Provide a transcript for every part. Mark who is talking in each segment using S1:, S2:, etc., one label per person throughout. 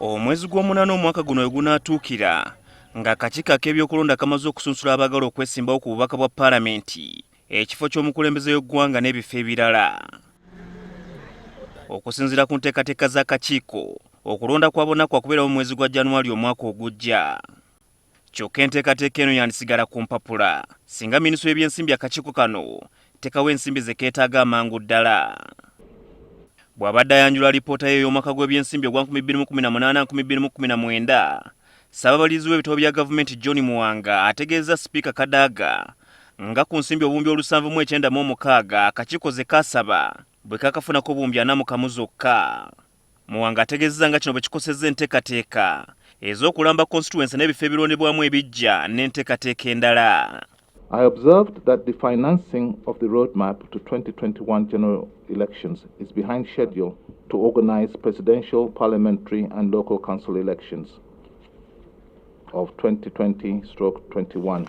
S1: omwezi gw'omunana omwaka guno wegunaatuukira ng'akakiiko ak'ebyokulonda kamaze okusunsula abaagala okwesimbawo ku bubaka bwa paalamenti ekifo ky'omukulembeze w'eggwanga n'ebifo ebirala okusinziira ku nteekateeka z'akakiiko okulonda kwa bona kwakubeerawo mu mwezi gwa januwali omwaka ogujja kyokka enteekateeka eno yandisigala ku mpapula singa minisitule y'ebyensimbi akakiiko kano tekawa ensimbi ze keetaaga amangu ddala bw'abadde ayanjula alipoota ye ey'omwaka gw'ebyensimbi ogwa 2018-2019 ssaababalirizi w'ebitabo bya gavumenti john muwanga ategeezezza sipiika kadaaga nga ku nsimbi obuwumbi olusanvu mu ekyenda mu omukaaga akakiiko ze kaasaba bwe kakafunako obuwumbi ana mu kamu zokka Muwanga ategezeza nga kino bwe kikosezza entekateeka ez'okulamba constituency n'ebifo ebirondebwamu ebiggya n'entekateeka endala. I observed
S2: that the financing of the roadmap to 2021 general elections is behind schedule to organize presidential, parliamentary, and local council elections of 2020 stroke 21.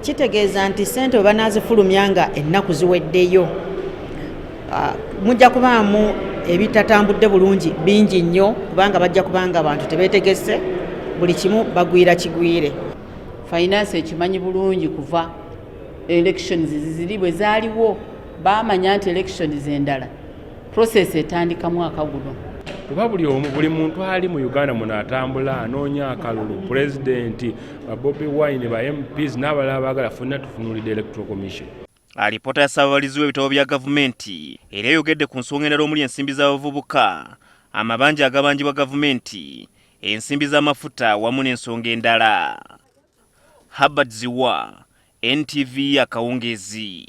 S1: kitegeeza
S3: nti ssente we banaazifulumya nga ennaku ziweddeyo ah, mujja kubaamu ebitatambudde bulungi bingi nnyo kubanga bajja kubanga abantu tebeetegese buli kimu bagwira kigwire finance
S4: ekimanyi bulungi kuva elections ziziri bwe zaaliwo baamanya nti elections endala process etandika mwaka guno kuba buli omu
S5: buli muntu ali mu uganda muno atambula anoonya akalulu pulezidenti Bobi Wine ba MPs n'abalala baagala fenna tufunulidde Electoral Commission. Alipoota ya
S1: ssaababalizi w'ebitabo bya gavumenti era eyogedde ku nsonga endala omuli ensimbi z'abavubuka, amabanja agabanjibwa gavumenti, ensimbi z'amafuta wamu n'ensonga endala. Herbert Ziwa, NTV Akawungeezi.